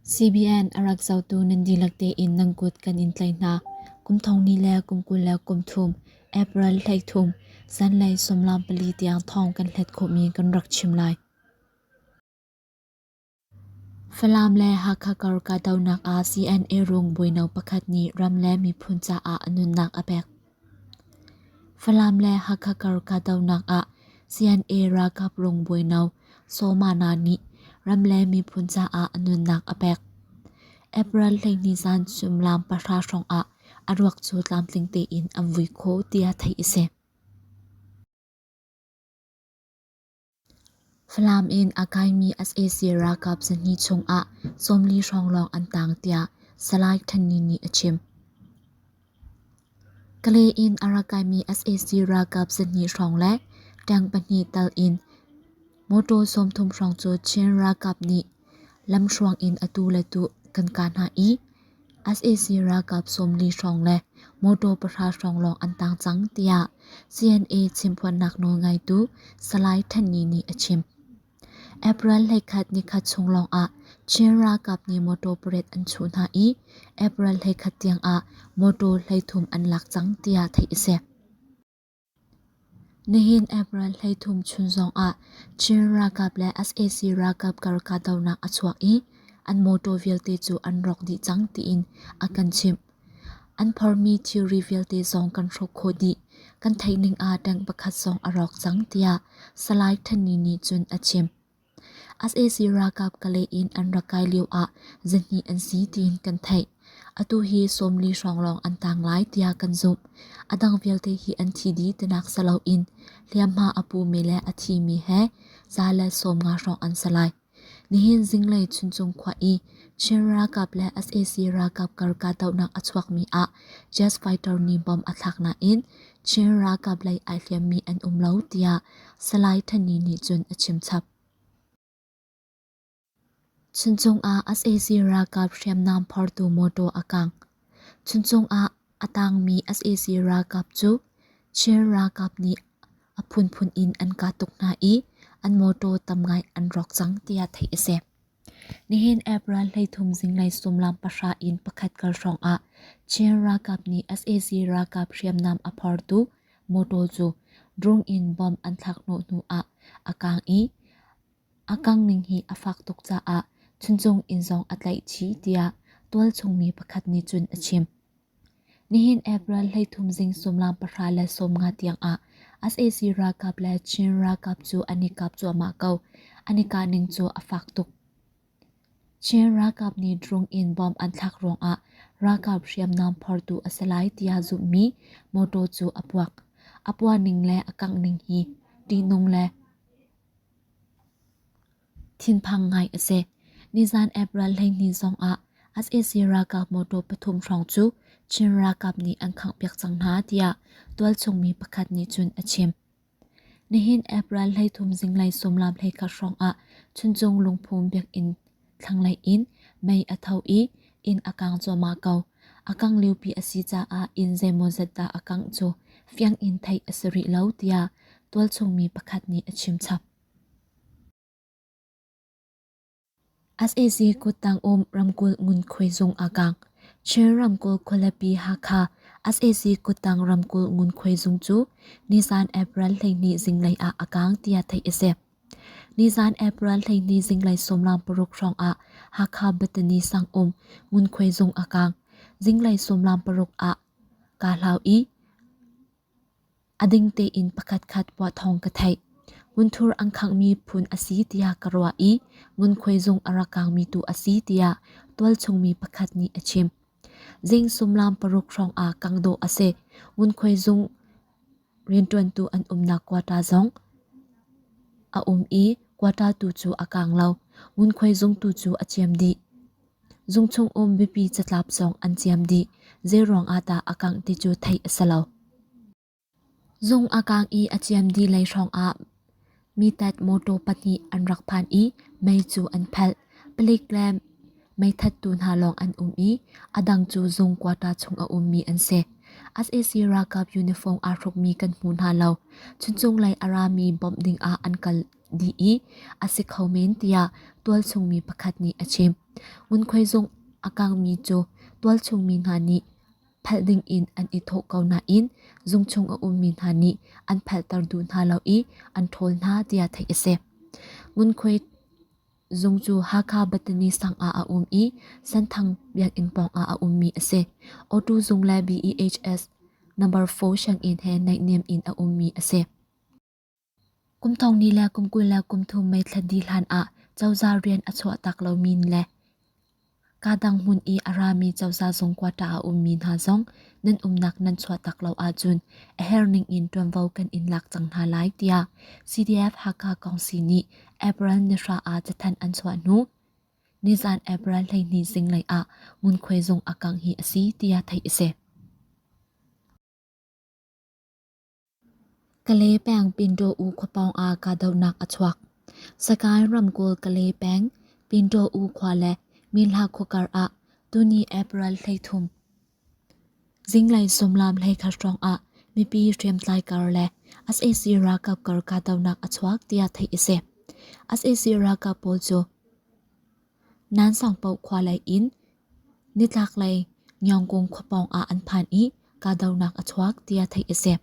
CBN a rak zotu nan dihlak tein nan kut kan in tlaih hna. Kum thong ni le kum kul le kum thum, April hleik thum, zanlei sumlam pali tiang thawng kan hlet khawhmi kan rak chim lai. Falam le Hakha kar kahdohnak ah CNA rung buino pakhat nih ram le miphun caah nunnak a pek. Falam le Hakha kar kahdohnak ah CNA ralkap rungbawi no Somana nih ram le miphun caah nunnak a pek. April hleihnih zan suimilam pahra hrawng ah a ruak cu tlamtling tein an vui kho tiah theih a si. Falam in a kaimi sac ralkap zahnih chungah sawmli hrawng lawng an tang tiah Salai Htan Ni nih a chim. Kalay in a ra kaimi sac ralkap zahnih hrawng le tank pahnih tal in motor sawmthum hrawng cu Chin ralkap nih lamhruang in atu le tu kan kah hna i sac ralkap sawmli hrawng le motor pahra hrawng lawng an tang cang tiah CNA chimphuannak nawlngeitu Salai Than Ni nih a chim. April hleikhat nikhat chung lawngah Chin ralkap nih motor parade an chuh hna i April hleikhat tiangah motor hleithum an lak cang tiah theih a si. Nihin April hleithum chun zongah Chin ralkap le sac ralkap kar kahdohnak a chuak i an mawtaw vialte cu an rawk dih cang tiin a kan chimh. An phormi thilri vialte zong kan hruk khawh dih. Kan theih ning ah tank pakhat zong a rawk cang tiah Salai Thanni nih cun a chim. sac ralkap Kale in an rak kai lio ah zihnih an si tiin kan theih. Atu hi sawmli hrawng lawng an tang lai tiah kan zumh. A dang vialte hi an thi dih tinak si loin hliamhma a pumi le a thimi he za le sawm nga hrawng an si lai. Nihin zinglei Chuncung khua i Chin ralkap le sac ralkap kar kahdohnak a chuakmi ah jet fighter nih bom a thlak nain Chin ralkap lei ai hliammi an um lo, tiah Salai Thani nih cun a chim chap. Chuncung ah sac ralkap hriamnam phortu motor a kang. Chuncung ah a tangmi sac ralkap cu Chin ralkap nih a phunphun in an kah tuk hna i an motor tam ngai an rawk cang, tiah theih a si. Nihin app ral hleithum zinglei sullam pahra in pakhat kal hrawngah Chin ralkap nih sac ralkap hriamnam a phortu motor cu drone in bomb an thlakhnawh hnu ah a kang i a kang ning hi a fak tuk caah chuncung in zong a tlaih chih tiah tualchung mi pakhat nih cun a chim. Nihin April hleithum zing sumlam pahra le sawmnga tiangah sac ralkap le Chin ralkap cu an i kap cuahmah ko. An i kahning cu a fak tuk. Chin ralkap nih drone in bomb an thlak ruangah ralkap hriamnam phortu a si lai tiah zumhmi mawtaw cu a puak. A puahning le a kanghning hi ṭihnung le Thinphang ngai a si. Nizan April hleihnih zong ah sac ralkap motor pathum hrawng cu Chin ralkap nih an khanghpiak cang hna tiah tualchungmi pakhat nih cun a chim. Nihin April hleithum zinglei sumlam hleikhat hrawng ah Chuncung lungphum biakinn thlanglei in mei a tho i inn a kang cuahmah ko. A kang liupi a si caah inn zeimawzat dah a kangh cu fiang in theih a si rih lo tiah tualchungmi pakhat nih a chim chap. sac kuttang um ramkulh ngunkhuai zung a kang. Chin ramkulh khualipi Hakha sac kuttang ramkulh ngunkhuai zung cu Nizan April hleihnih zinglei ah a kang tiah theih a si. Nizan April hleihnih zinglei sawmlang paruk hrawng ah Hakha Battani sang um ngunkhuai zung a kang. Zinglei sawmlang paruk ah kaa hlau i A ding tein pakhatkhat puah thawng ka theih. Ngunthur an khanghmi phun a si tiah ka ruah i ngunkhuai zung a ra kangmi tu a si tiah tualchungmi pakhat nih a chim. Zing sumlam paruk hrawng ah kang dawh a si. Ngunkhuai zung rianṭuantu an umnak quarter zong a um i quarter tu cu a kang lo. Ngunkhuai zung tu cu a ciam dih. Zung chung um mipi catlap zong an ciam dih, zeiruangah dah a kangh ti cu theih a si lo. Zung a kang i a ciam dih lei hrawngah mitat motor pahnih an rak phan i mei cu an phelh. Palik le meithattu hna lawng an um i a dang cu zung quarter chung a ummi an si. SAC ralkap uniform aa hrukmi kan hmu hna lo. Chuncung lei a rami bawmh dingah an kal. dih i a si kho men tiah tualchungmi pakhat nih a chim. Ngunkhuai zung a kangmi cu tualchungmi hna nih phalh ding in an i thawh ko nain zung chung a ummi hna nih an phalhter duh hna lo i an ṭhawl hna tiah theih a si. Ngunkhuai zung cu Hakha Bethany sang ah a um i Santhang biakinn pawng ah a ummi a si. O2 zung le BEHS number 4 sianginn he naihniam in a ummi a si. Kum thong ni le kum kul le kum thum meithlat dih hlanah cozah rian a chuahtak lomi le kaa dang hmun i a rami cozah zung quota a ummi hna zong nan umnak nan chuahtak lo ahcun a herning in ṭuanvo kan in lak cang hna lai tiah CDF Hakha Kongsi nih April ni hra ah cathanh an chuah hnu nizan April hleihnih zinglei ah ngunkhuai zung a kangh hi a si tiah theih a si. Kale peng Pinto U khuapawng ah kahdohnak a chuak. Sagaing ramkulh Kale peng Pinto U khua le Minhla khua kar ah tuni April hleithum. Zinglei sumlam hleikhat hrawng ah mipi hriamtlai kar le SAC ralkap kar kahdohnak a chuak tiah theih a si. SAC ralkap pawl cu Nan sangpaoh khua lei in nitlaklei Nyawngkung khua pawng ah an phan i kahdohnak a chuak tiah theih a si.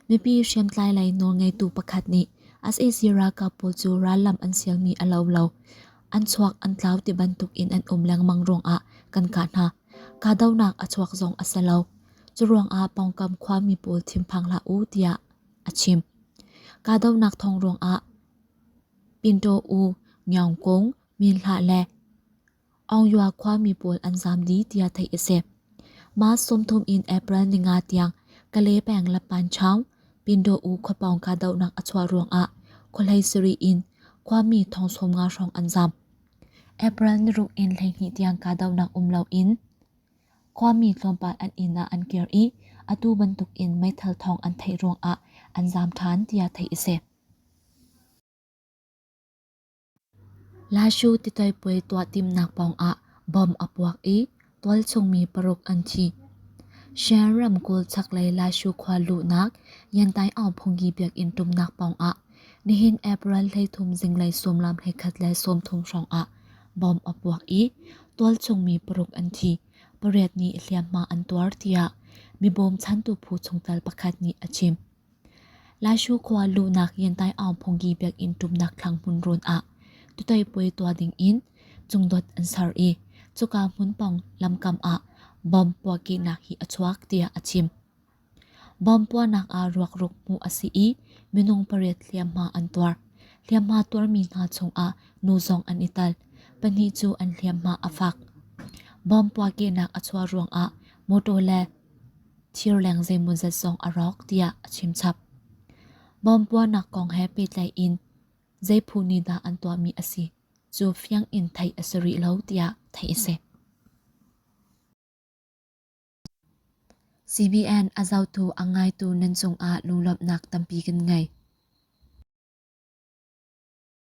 Mipi hriamtlai lei nawlngeitu pakhat nih sac ralkap pawl cu rallam an sialmi a lo lo. An chuak an tlau ti bantuk in an um lengmang ruangah kan kah hna. Kahdohnak a chuak zong a si lo. Curuangah pawngkam khuami pawl thinphang hlah u tiah a chim. Kahdohnak thawng ruangah Pintaw U, Ngiaung Kung, Min Hla le Aung Yua khuami pawl an zaam dih tiah theih a si. Mah sumthum in April ninga tiang Kale peng Lapan Chang, Pintaw U khuapawng kahdohnak a chuah ruangah khualei sarih in khuami thong sawm nga hrawng an zaam. April niruk in hleihnih tiang kahdohnak um loin khuami tlawmpal an inn ah an kir i atu bantuk in meithal thong an theih ruangah an zaam ṭhan tiah theih a si. Lashu titoipuai tuah timnak pawngah bom a puak i tualchungmi paruk an thi. Shan ramkulh chaklei Lashu khua luhnak Yantai Aung Phungyi biakinn tumnak pawngah nihin April hleithum zinglei suamlam hleikhat le sawmthum hrawngah bom a puak i tualchungmi paruk an thi. Pariat nih hliamhma an tuar tiah mi bawmchantu phu chungtel pakhat nih a chim. Laishu khua luhnak yentai aung phonggi biakinn tumnak thlangmun rawn ah tutei puai tuah ding in cungdot an ser i cuka hmunpang lamkam ah bom puahkehnak hi a chuak tiah a chim. Bom puahnak ah ruakruk hmuh a si i minung pariat hliamhma an tuar. Hliamhma tuarmi hna chungah nu zong an i tal. Pahnih cu an hliamhma a fak. Bom puahkehnak a chuah ruangah motor le Thirleng zeimawzat zong a rawk tiah a chimchap. Bawmpuanak kong he pehtlai in zeiphu nih dah an tuahmi a si cu fiang in theih a si rih lo tiah theih a si. CBN a zohtu a ngaitu nan cungah lunglawmhnak tampi kan ngei.